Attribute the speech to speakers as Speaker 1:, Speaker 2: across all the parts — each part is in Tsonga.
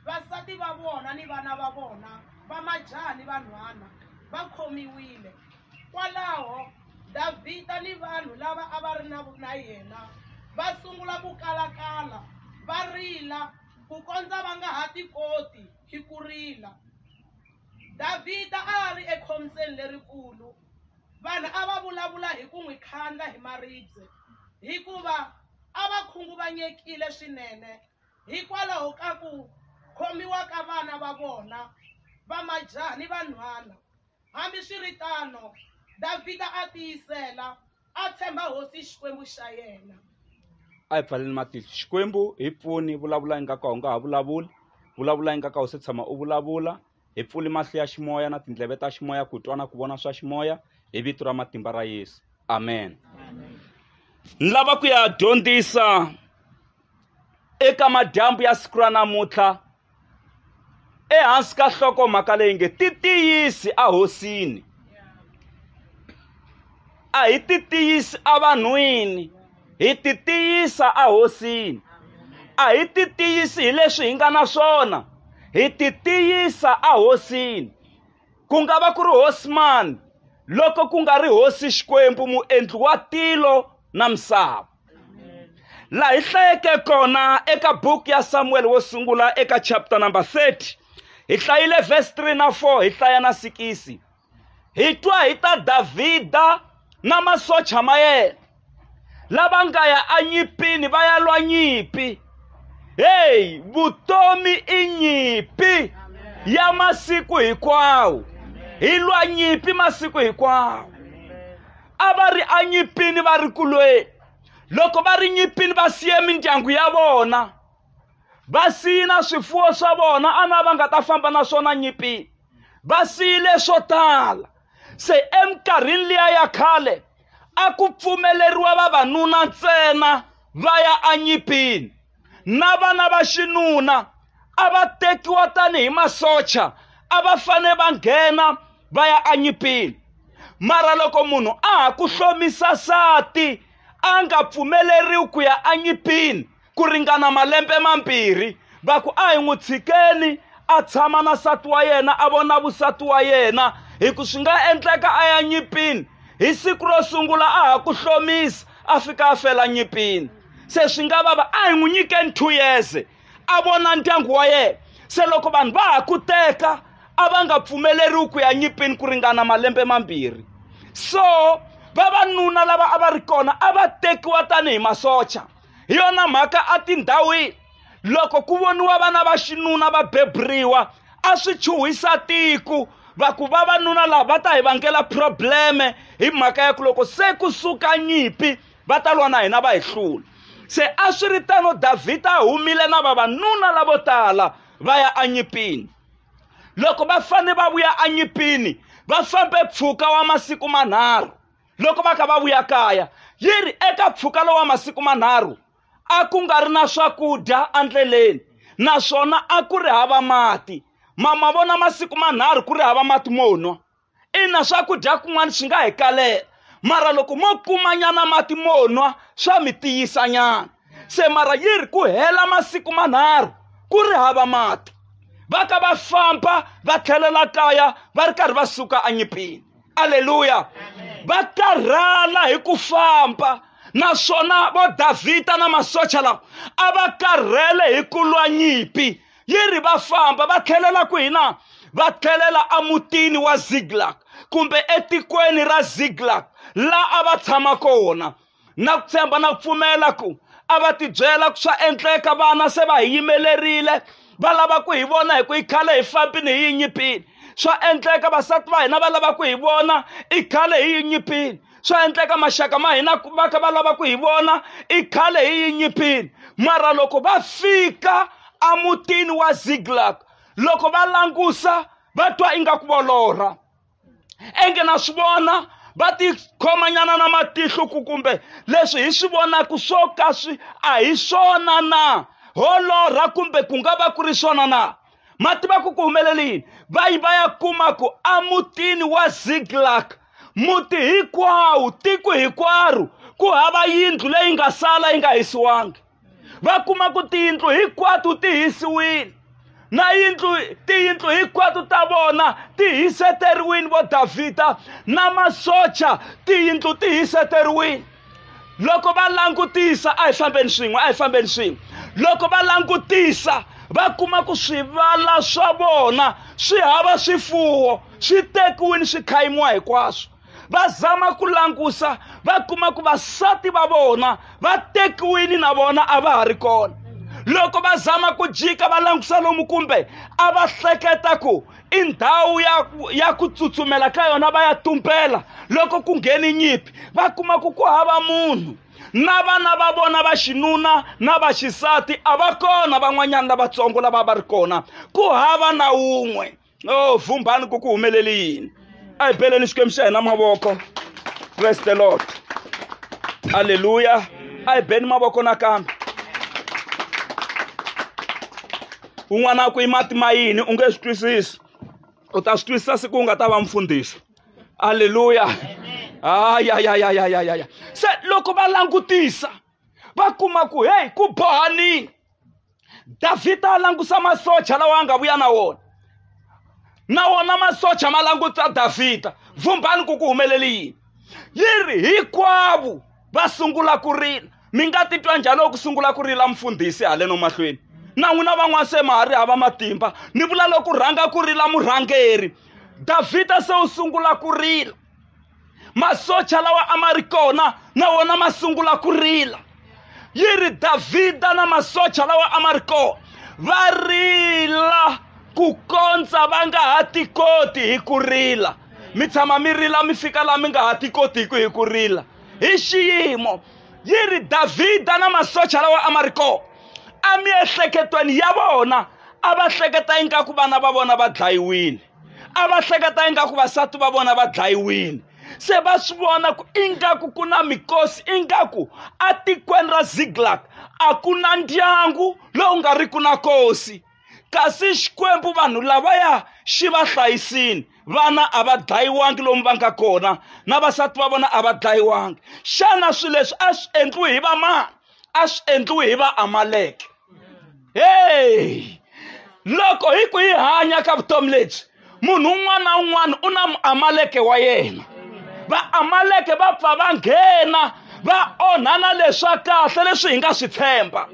Speaker 1: vasati va vona ni vana va vona va majaha ni vanhwana va khomiwile kwalaho davhida ni vanhu lava a va ri na na yena va sungula ku kalakala va rila ku kondza va nga ha tikoti hi ku rila davhida a a ri ekhombyeni lerikulu vanhu a va vulavula hi ku n'wi khandla hi maribye hikuva a va khunguvanyekile swinene hikwalaho ka ku khomiwa ka vana va vona va majaha ni vanhwana. Hambiswiritano, Davhida a tiyisela a tshemba hosi Xikwembu xa yena. a hi
Speaker 2: pfaleni matihlo xikwembu hi pfuni vulavula ingaku a wu nga ha vulavuli vulavula ingaku a wu se tshama u vulavula Hi pfuli mahlo ya ximoya na tindleve ta ximoya ku twa na ku vona swa ximoya hi vito ra matimba ra Yesu. Amen. Ni lava ku ya dyondzisa eka madyambu ya siku ra namuntlha ehansi ka hloko mhaka leyi nge ti tiyisi a hosini a hi ti tiyisi evanhwini hi titiyisa ehosini a hi titiyisi hi leswi hi nga na swona hi titiyisa ehosini ku nga va ku ri hosi mani loko ku nga ri hosi xikwembu muendli wa tilo na misava laha hi hlayeke kona eka buku ya samuwele wo sungula eka chapter number 30 hi hlayile verse 3 na 4 hi hlaya na sikisi hi twa hi ta Davhida na masocha ma yena lava nga ya enyipini va ya lwa nyimpi heyi vutomi i nyimpi ya masiku hinkwawo hi lwa nyimpi masiku hinkwawo a va ri enyipini va ri kulweni loko va ri nyipini va siye mindyangu ya vona va siyi na swifuwo swa vona a na va nga ta famba na swona nyipini va siyile swo tala se eminkarhini liya ya khale a ku pfumeleriwa vavanuna ntsena va ya anyipini na vana va xinuna a va tekiwa tanihi masocha a va fane va nghena va ya anyipini mara loko munhu a ha ku hlomisa sati a nga pfumeleriwi ku ya anyipini ku ringana malembe mambirhi va ku a hi n'wi tshikeni a tshama na nsati wa yena a vona vusati wa yena hi ku swi nga endleka a ya nyipini hi siku ro sungula a ha ku hlomisa a fika a fela nyipini se swi nga vava a hi n'wi nyikeni two years a vona ndyangu wa yena se loko vanhu va ha ku teka a va nga pfumeleriwi ku ya nyipini ku ringana malembe mambirhi so vavanuna lava a va ri kona a va tekiwa tanihi masocha hi yona mhaka etindhawini loko ku voniwa vana va xinuna va beburiwa a swi chuhisa tiku va ku vavanuna lava va ta hi vangela probleme hi mhaka ya ku loko se ku suka nyimpi va ta lwa na hina va hi hlula se a swi ri tano davhida a humile na vavanuna lavo tala va ya enyimpini loko va fanele va vuya enyimpini va fambe mpfhuka wa masiku manharhu loko va kha va vuya kaya yi ri eka mpfhuka lowa masiku manharhu a ku nga ri na swakudya endleleni naswona a ku ri hava mati mama vona masiku manharhu ku ri hava mati mo nwa ina swakudya kun'wana swi nga hi kalela mara loko mo kumanyana mati mo nwa swa mi tiyisanyana se mara yi ri ku hela masiku manharhu ku ri hava mati va ka va famba va tlhelela kaya va ri karhi va suka anyipini aleluya va karhala hi ku famba naswona vo davhida na masocha lawa a va karhele hi ku lwa nyimpi yi ri va famba va tlhelela ku hina va tlhelela emutini wa ziglak kumbe etikweni ra ziglak laha a va tshama kona na ku tshemba na ku pfumela ku a va tibyela ku swa endleka vana se va hi yimelerile va lava ku hi vona hi ku yi khale hi fambini hi yi nyipini swa endleka vasati va hina va lava ku hi vona i khale hi yi nyipini swa endleka maxaka ma hina va kha va lava ku hi vona i khale hi yi nyipini mara loko va fika emutini wa ziglag loko va langusa va twa ingaku volorha enge na swi vona va tikhomanyana na matihlo ku kumbe leswi hi swi vonaka swo ka swi a hi swona na holorha kumbe ku nga va ku ri swona na ma tiva ku ku humelela yini va yi va ya kuma ku emutini wa ziglak muti hinkwawo tiko hinkwaro ku hava yindlu leyi nga sala yi nga hisiwangi va kuma ku tiyindlu hinkwato ti hisiwile na yindlu tiyindlu hinkwato ta vona ti hiseteriwile vo davhida na masocha tiyindlu ti hiseteriwile loko va langutisa a hi fambeni swin'we a hi fambeni swin'we loko va langutisa va kuma ku swivala swa vona swi hava swifuwo swi tekiwile swi khayimiwa hinkwaswo va zama ku langusa va kuma ku vasati va vona va tekiwini na vona a va ha ri kona loko va zama ku jika va langusa lomu kumbe a va hleketa ku i ndhawu ya, ya ku tsutsumela ka yona va ya tumbela loko ku ngheni nyimpi va kuma ku ku hava munhu na vana va vona va xinuna na va xisati a va kona van'wanyana lavatsongo lava va ri kona ku hava na wun'we no vhumbhani ku ku humelele yini a hi beleni xikwembu xa hina mavoko praise the lord halleluya a hi beni mavoko nakambe un'wana a ku i mati ma yini u nge swi twisisi u ta swi twisisa siku u nga ta va mfundhisi halleluya ayayayayayaya se loko va langutisa va kuma ku heyi ku bohanini davhida a langusa masocha lawa a nga vuya na wona na wona masocha ma languta davhida vumbhani ku ku humeleli yini yi ri hinkwavo va sungula ku rila mi nga titwa njhani loko ku sungula ku rila mfundhisi haleno mahlweni na n'wina van'wana se ma ha ri hava matimba ni vula loko rhanga ku rila murhangeri davhida se u sungula ku rila masocha lawa a ma ri kona na wona ma sungula ku rila yi ri davhida na masocha lawa a ma ri kona va rila ku kondza va nga ha tikoti hi ku rila mi tshama mi rila mi fika laha mi nga ha tikotiku hi ku rila hi xiyimo yi ri davhida na masocha lawa a ma ri kona emiehleketweni ya vona a va hleketa ingaku vana va vona va dlayiwile a va hleketa ingaku vasati va vona va dlayiwile se va swi vona ku ingaku ku na mikosi ingaku etikweni ra ziglak a ku na ndyangu lowu nga ri ku na kosi kasi xikwembu vanhu lavaya xi va hlayisini vana a va dlayiwangi lomu va nga kona na vasati va vona a va dlayiwangi xana swilo leswi a swi endliwi hi vamani a swi endliwi hi vaamaleke hey! loko hi ku yi hanya ka vutomi lebyi munhu un'wana na un'wana u na muamaleke wa yena vaamaleke va pfa va nghena va onhana leswa kahle leswi hi nga swi tshemba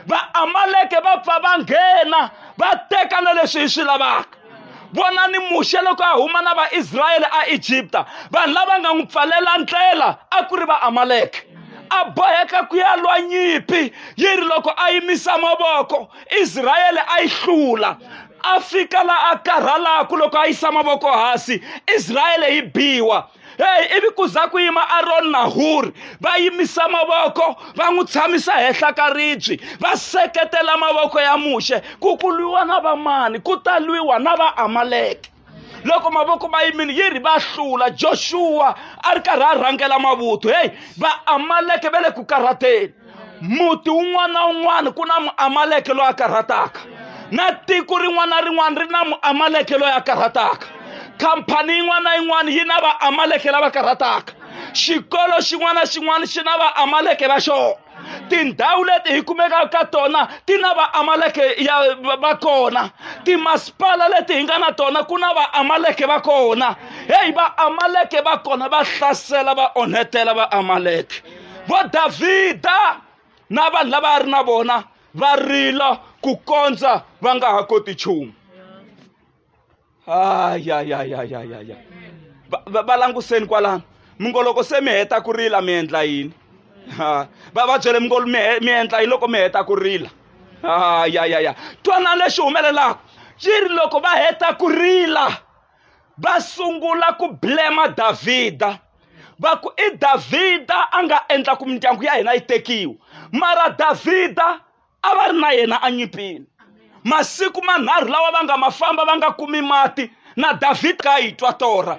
Speaker 2: vaamaleke va pfa va nghena va teka na leswi hi swi lavaka vona ni muxe loko a huma na vaisrayele aegipta vanhu lava nga n'wi pfalela ndlela a ku ri vaamaleke a boheka ku ya lwa nyimpi yi ri loko a yimisa mavoko israyele a yi hlula a fika la a karhalaku loko a yisa mavoko hansi israyele yi biwa heyi ivi ku za ku yima aroni na huri va yimisa mavoko va n'wi tshamisa henhla ka ribyi va seketela mavoko ya muxe ku ku lwiwa na vamani ku ta lwiwa na vaamaleke loko mavoko ma yimile yi ri va hlula joxuwa a ri karhi a rhangela mavuthu heyi vaamaleke va le ku karhateni muti wun'wana na wun'wana ku na muamaleke loyi a karhataka na tiko rin'wana na rin'wana ri na muamaleke loyi a karhataka khampani yin'wana na yin'wana yi na vaamaleke lava karhataka xikolo xin'wana na xin'wana xi na vaamaleke va xona tindhawu leti hi kumekaka ka tona ti na vaamaleke ya va kona timasipala leti hi nga na tona ku na vaamaleke va kona heyi vaamaleke va kona va hlasela va onhetela vaamaleke vo davhida na vanhu lava a ri na vona va rila ku kondza va nga ha koti nchumu ayayayayayaya va languseni kwalano mi ngo loko se mi heta ku rila mi endla yini va va byele mi ngo mi endla yini loko mi heta ku rila ayayaya twanani lexi humelelaka yi ri loko va heta ku rila va sungula ku blema davhida va ku i davhida a nga endla ku mindyangu ya hina yi tekiwa mara davhida a va ri na yena enyimpini masiku manharhu lawa va nga ma famba va nga kumi mati na davhida ka yi twa torha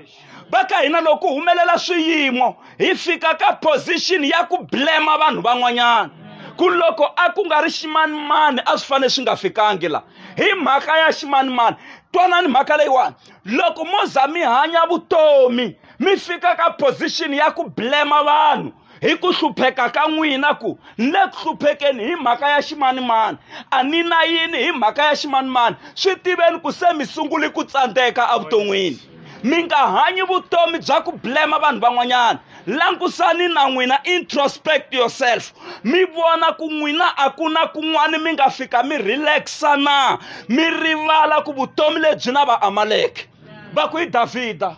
Speaker 2: va ka hina loko humelela swiyimo hi fika ka position ya ku blema vanhu van'wanyana ku loko a ku nga ri ximanimani a swi fanele swi nga fikangi la hi mhaka ya ximanimani twanani mhaka leyiwani loko mo za mi hanya vutomi mi fika ka position ya ku blema vanhu hi ku hlupheka ka n'wina ku ni le ku hluphekeni hi mhaka ya ximanimani a ni na yini hi mhaka ya ximanimani swi tiveni ku se mi sunguli ku tsandzeka evuton'wini mi nga hanyi vutomi bya ku blema vanhu van'wanyana langusani na n'wina introspect yourself mi vona ku n'wina a ku na kun'wana mi nga fika mi relaxa na mi rivala ku vutomi lebyi na va amaleke va ku hi davhida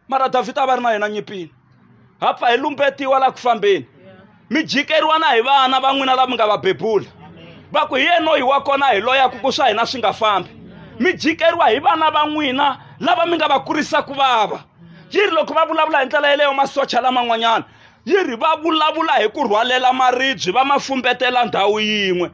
Speaker 2: mara davhida a va ri na yena nyipini ha pfa hi lumbetiwa laha ku fambeni mi jikeriwa na hi vana va n'wina lava mi nga va bebula va ku hi yenoyi wa kona hi loyaku ku swa hina swi nga fambi mi jikeriwa hi vana va n'wina lava mi nga va kurisa ku vava yi ri loko va vulavula hi ndlela yeleyo masocha laman'wanyana yi ri va vulavula hi ku rhwalela maribye va ma fumbetela ndhawu yin'we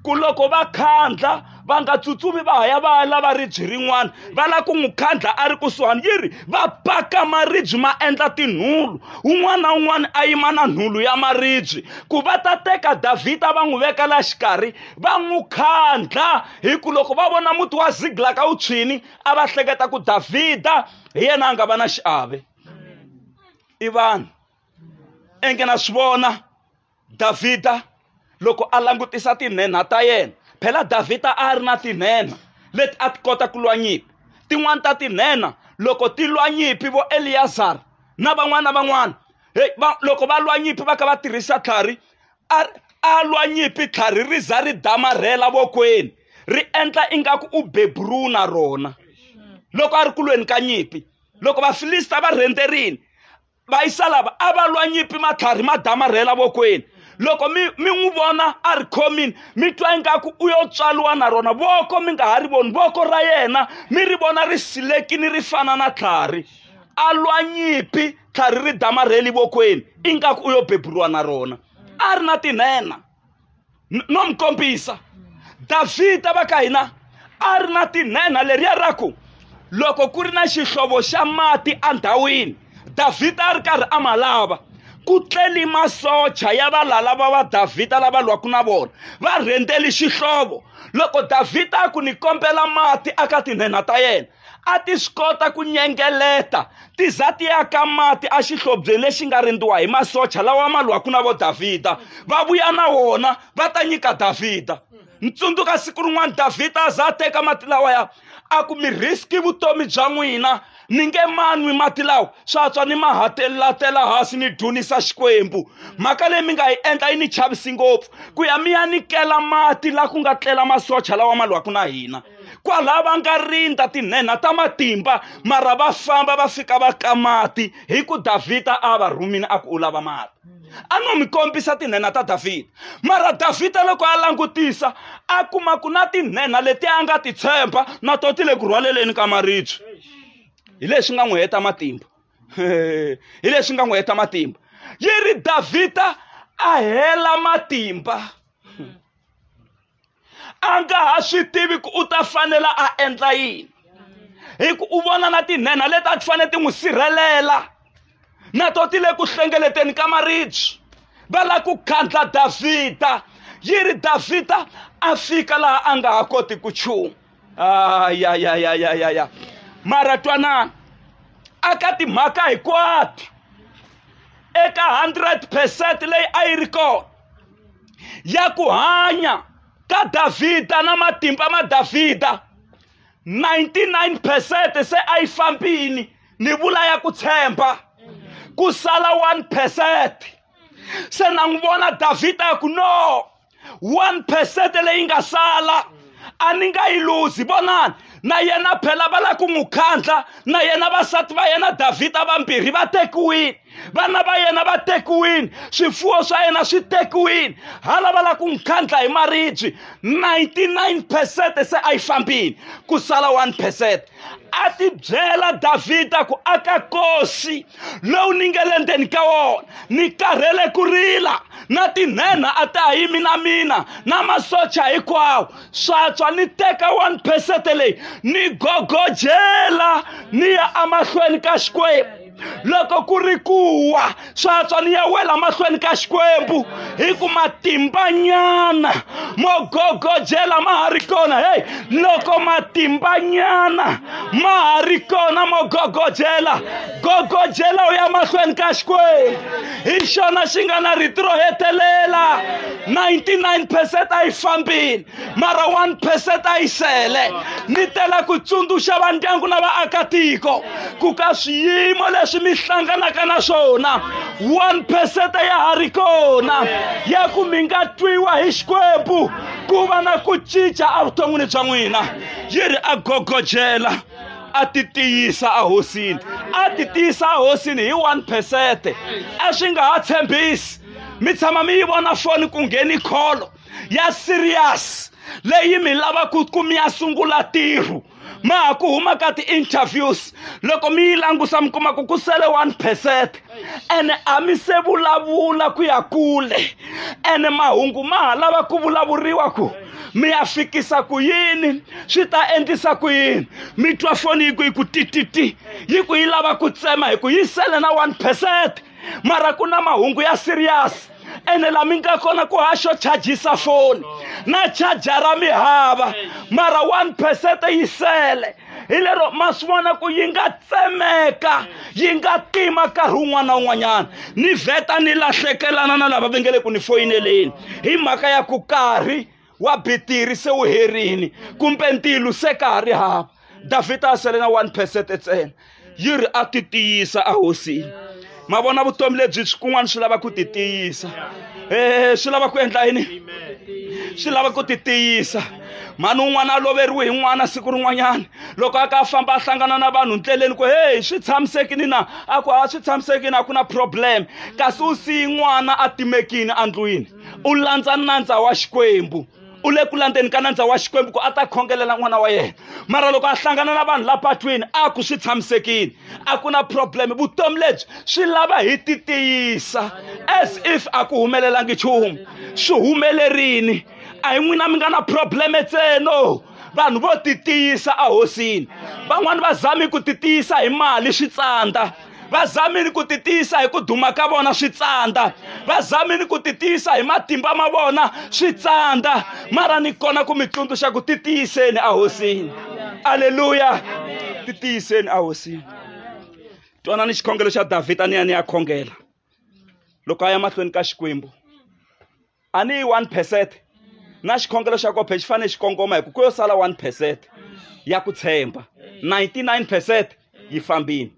Speaker 2: ku loko va khandla va nga tsutsumi va ha ya va ya lava ribye rin'wana va lava ku n'wi khandla a ri kusuhani yi ri va paka maribye ma endla tinhulu un'wana na un'wana a yima na nhulu ya maribye ku va ta teka davhida va n'wi veka la xikarhi va n'wi khandla hi ku loko va vona muti wa ziglaka wu tshwini a va hleketa ku davhida hi yena a nga va na xiave i vanhu enge na swi vona davhida loko a langutisa tinhenha ta yena phela davhida a ri na tinhenha leti a ti kota ku lwa nyimpi tin'wani ta tinhenha loko ti lwa nyimpi vo eliyazara na van'wana na van'wana hey, va, loko va lwa nyimpi va kha va tirhisa tlhari a lwa nyimpi tlhari ri za ri damarhela vokweni ri endla ingaku u beburu na rona loko a ri kulweni ka nyimpi loko vafilista va rhenderini vayisalava a va lwa nyipi matlhari ma damarhela vokweni loko mi mi n'wi vona a ri khomini mi twa ingaku u yo tswaliwa na rona voko mi nga ha ri voni voko ra yena mi ri vona ri silekini ri fana na tlhari a lwa nyipi tlhari ri damarheli vokweni ingaku u yo beburiwa na rona a ri na tinhena no mi kombisa davhida va ka hina a ri na tinhenha leriya ra ku loko ku ri na xihlovo xa mati endhawini davhida a ri karhi a ma lava ku tleli masocha ya valala va va davhida lava lwaku na vona va rhendzeli xihlovo loko davhida a ku ni kombela mati aka tinhenha ta yena a ti swi kota ku nyengeleta ti za ti ya ka mati exihlobyeni lexi nga rindziwa hi masocha lawa ma lwaka na vo davhida va vuya na wona va ta nyika davhida ni tsundzuka siku rin'wana davhida a za a teka mati lawaya a ku mi riski vutomi bya n'wina ni nge manwi mati lawa swa tswa ni mahatelatela hansi ni dunisa xikwembu mhaka leyi mi nga yi endla yi ni chavisi ngopfu ku ya mi ya nikela mati la ku nga tlela masocha lawa ma lwaku na hina kwalaha va nga rindza tinhenha ta matimba mara va famba va fika va ka mati hi ku davhida a va rhumini a ku u lava mati a no mi kombisa tinhenha ta davhida mara davhida loko a langutisa a kuma ku na tinhenha leti a nga ti tshemba na to ti le ku rhwaleleni ka maribye hi leswi nga n'wi heta matimba hi leswi nga n'wi heta matimba yi ri davhida a hela matimba a nga ha swi tivi ku u ta fanela a endla yini hi ku u vona na tinhenha leti a ti fanele ti n'wi sirhelela na to ti le ku hlengeleteni ka maribye va lava ku khandla davhida yi ri davhida a fika laha a nga ha koti ku chumu ayayayayaya mara twanana aka timhaka hinkwato eka 100 percent leyi a yi ri kona ya ku hanya ka davhida na matimba ma davhida 99 percent se a yi fambini ni vula ya ku tshemba ku sala 1 percent se na n'wi vona davhida ya ku no 1 percent leyi nga sala a ni nga yi luzi vonani na yena phela va lava ku n'wi khandla na yena vasati va yena davhida vambirhi va tekiwile vana va yena va tekiwile swifuwo swa yena swi tekiwile hala va lava ku n'wi khandla hi maribye 99 percent se a yi fambile ku sala 1 percent a ti byela davhida ku aka kosi lowu ni nge le ndzeni ka wona ni karhele ku rila na tinhenha a ta ha yimi na mina na masocha hinkwawo swatswa ni teka one percent leyi ni gogojela ni ya emahlweni ka xikwembu loko ku ri kuwa swa tswa ni ya wela mahlweni ka xikwembu hi ku matimbanyana mo gogojela ma ha ri kona heyi loko matimbanyana ma ha ri kona mo gogojela gogojela u ya mahlweni ka xikwembu hi xona xi nga na rito ro hetelela 99 percent a yi fambile mara one percent a yi sele ni tela ku tsundzuxa va ndyangu na vaakatiko ku ka swiyimo leswi mi hlanganaka na swona one percent ya ha ri kona ya ku mi nga twiwa hi xikwembu ku va na ku cinca evuton'wini bya n'wina yi ri a gogojela a ti tiyisa ehosini a ti tiyisa ehosini hi one percent a swi nga ha tshembisi mi tshama mi yi vona foni ku ngheni kholo ya serious leyi mi lavaka ku mi ya sungula tirho ma ha ku huma ka ti-interviews loko mi yi langusa mi kuma ku ku sele one percent ene a mi se vulavula ku ya kule ene mahungu ma ha lava ku vulavuriwa ku mi ya fikisa ku yini swi ta endlisa ku yini mi twa foni yi ku yi ku tititi yi ku yi lava ku tsema hi ku yi sele na one percent mara ku na mahungu ya serious ene la mi nga kona ku haxo chajisa foni na chajara mi hava mara one percent yi sele hi lero ma swi vona ku yi nga tsemeka yi nga tima nkarhi wun'wana na wun'wanyana ni vheta ni lahlekelana na lava va nge le ku ni foyineleni hi mhaka ya ku karhi wa bitiri se wu herini kumbe ntilu se ka ha ri hava davhida a sele na one percent ntsena yi ri a ti tiyisa ehosini ma vona vutomi lebyi kun'wana swi lava ku ti tiyisa um swi lava ku endla yini swi lava ku ti tiyisa mhani un'wana a loveriwe hi n'wana siku rin'wanyana loko a ka a famba a hlangana na vanhu ndleleni ku heyi swi tshamisekini na a ku a swi tshamisekini a ku na problem kasi u siyi n'wana a timekini endlwini u landza nandza wa xikwembu u le ku landzeni ka nandza wa xikwembu ku a ta khongelela n'wana wa yena mara loko a hlangana na vanhu la patwini a ku swi tshamisekile a ku na problem vutomi lebyi swi lava hi ti tiyisa as if a ku humelelangi nchumu swi humelerini a hi n'wina mi nga na probleme tseno vanhu vo ti tiyisa ahosini van'wani va zami ku ti tiyisa hi mali switsandza va zamini ku titiyisa hi ku duma ka vona swi tsandza va zamini ku titiyisa hi matimba ma vona swi tsandza mara ni kona ku mi tsundzuxa ku titiyiseni ahosini aleluya titiyiseni ahosini twana ni xikhongelo xa davhida ni ya ni ya khongela loko a ya mahlweni ka xikwembu a ni yi one percent na xikhongelo xa kophe xi fanele xi kongoma hi ku ku yo sala one percent ya ku tshemba 99 percent yi fambini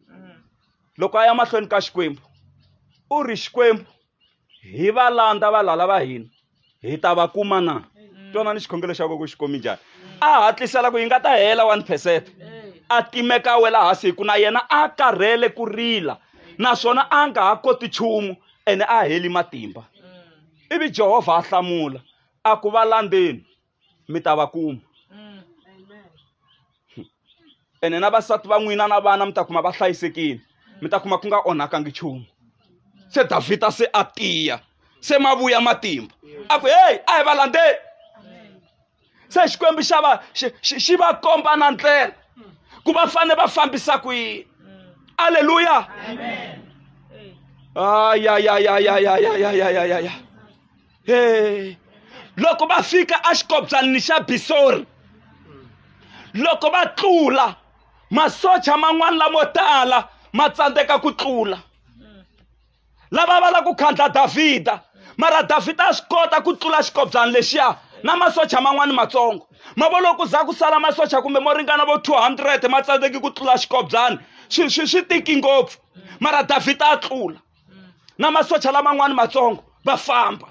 Speaker 2: loko a ya mahlweni ka xikwembu u ri xikwembu hi va landza valala va hina hi ta va kuma na twana ni xikhongelo xa koko xi komi njhani a hatlisela ku yi nga ta hela one percent a timeka wela hasi hi ku na yena a karhele ku rila naswona a nga ha koti nchumu ene a heli matimba ivi jehovha a hlamula a ku va landzeni mi ta va kuma ene na vasati va n'wina na vana mi ta kuma va hlayisekile mi ta kuma ku nga onhakangi nchumu se davhida se a tiya se ma vuya matimba a ku heyi a hi va landzeni se xikwembu xa va xi, xi, xi va komba na ndlela ku va fanele va fambisa ku yini aleluya ayayayayayayayayaya he loko va fika exikobyalini xa bisori loko va tlula masocha man'wana lamo tala ma tsandzeka ku tlula lava va lava ku khandla davhida mara davhida a swi kota ku tlula xikobyana lexiya na masocha man'wani matsongo ma vo loko za ku sala masocha kumbe mo ringana vo 200 ma tsandzeki ku tlula xikobyana swi swi swi tiki ngopfu mara davhida a tlula na masocha laman'wani matsongo va famba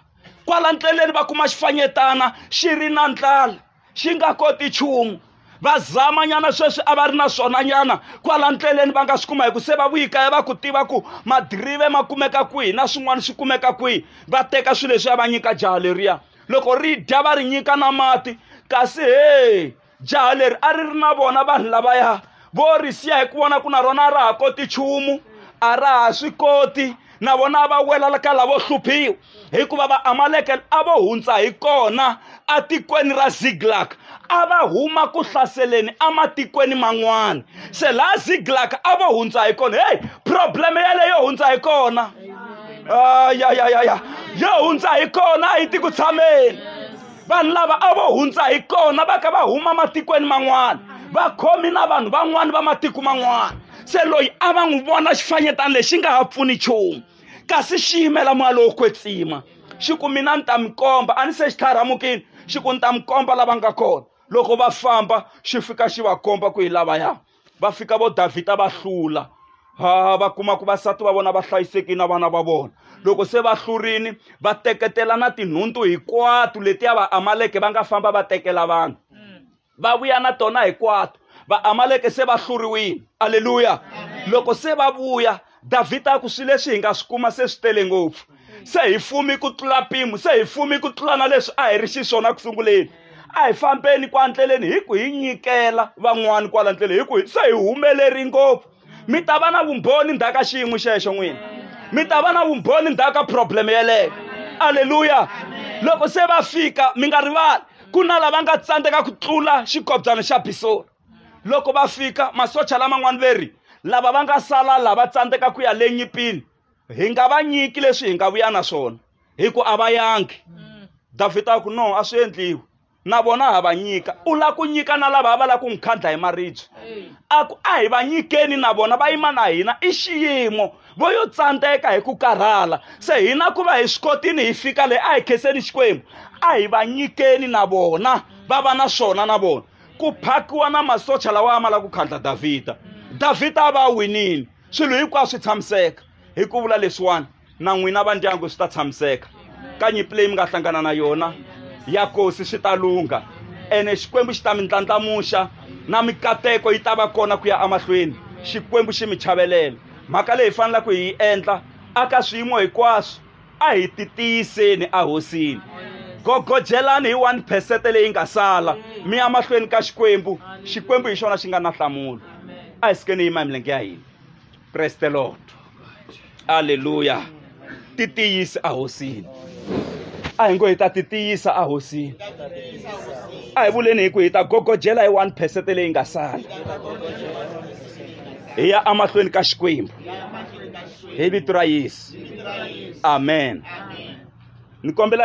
Speaker 2: kwala ndleleni va kuma xifanyetana xi ri na ndlala xi nga koti nchumu va zamanyana sweswi a va ri na swona nyana kwala ndleleni va nga swi kuma hi ku se va vuyikaya va ku tiva ku madirive ma kumeka kwihi na swin'wana swi kumeka kwihi va teka swilo leswi ya va nyika jaha leriya loko ri dya va ri nyika na mati kasi he jaha leri a ri ri na vona vanhu lavaya vo ri siya hi ku vona ku na rona a ra ha koti nchumu a ra ha swi koti na vona a va wela ka lavo hluphiwa hikuva vaamaleke a vo hundza hi kona atikweni ra ziglak a va huma ku hlaseleni ematikweni man'wana se laha ziglak a vo hundza hi kona heyi probleme yaleyo hundza hi kona ya ya ya ya yo hundza hi kona a yi ti ku tshameni vanhu lava a vo hundza hi kona va kha va huma matikweni man'wana vakhomi na vanhu van'wana va matiko man'wana se loyi a va n'wi vona xifanyetana lexi nga ha pfuni nchumu kasi xi yimela moya lowo kwetsima xi ku mina ni ta mi komba a ni se xi tlharamukile xi ku ni ta mi komba lava nga kona loko va famba xi fika xi va komba ku hi lavaya va fika vo davhida va hlula ha va kuma ku vasati va vona va hlayisekile na vana va vona loko se va hlurini va teketela na tinhuntu hinkwato letiya va amaleke va nga famba va tekela vanhu mm. va vuya na tona hinkwato va amaleke se va hluriwile aleluya loko se va vuya davhida a ku swilo leswi hi nga swi kuma se swi tele ngopfu se hi fumi ku tlula mpimo se hi fumi ku tlula na leswi a hi ri xiswona ku sunguleni a hi fambeni kwa ndleleni hi ku hi nyikela van'wani kwala ndleleni hi ku se hi humeleri ngopfu mi ta va na vumbhoni ndzhaku ka xiyimo xexo n'wina mi ta va na vumbhoni ndzhaku ka problem yeleyo aleluya loko se va fika mi nga rivali ku na lava nga tsandzeka ku tlula xikobyana xa bisori loko va fika masocha laman'wana veri lava va nga sala lava tsandzeka ku ya le nyipini hi nga va nyiki leswi hi nga vuya na swona hi ku a va yangi mm. davhida a ku no a swi endliwi na vona ha va nyika u lava ku nyika na lava va lava ku n'wi khandla hi maribye a ku a hi va nyikeni na vona va yima na hina i xiyimo vo yo tsandzeka hi ku karhala se hina ku va hi swi kotini hi fika leyi a hi khenseni xikwembu a hi va nyikeni na vona va va na swona na vona ku phakiwa na masocha lawa a ma lava ku khandla davhida davhida a va a winile swilo hinkwaswo swi tshamiseka hi ku vula leswiwani na n'wina va ndyangu swi ta tshamiseka ka nyimpi leyi mi nga hlangana na yona ya kosi swi ta lungha ene xikwembu xi ta mi ndlandlamuxa na mikateko yi ta va kona ku ya emahlweni xikwembu xi mi chavelela mhaka leyi hi faneleke hi yi endla aka swiyimo hinkwaswo a hi titiyiseni ahosini gogojelani hi 1 phesete leyi nga sala mi ya mahlweni ka xikwembu xikwembu hi xona xi nga na nhlamulo a hi sikeni yima hi milenge ya hina praise the lord aleluya ti tiyisi ahosini a hi ngo hi ta ti tiyisa ahosini a hi vuleni hi ku hi ta gogojela hi 1 phesete leyi nga sala hi ya emahlweni ka xikwembu hi vito ra yesu amen ni kombela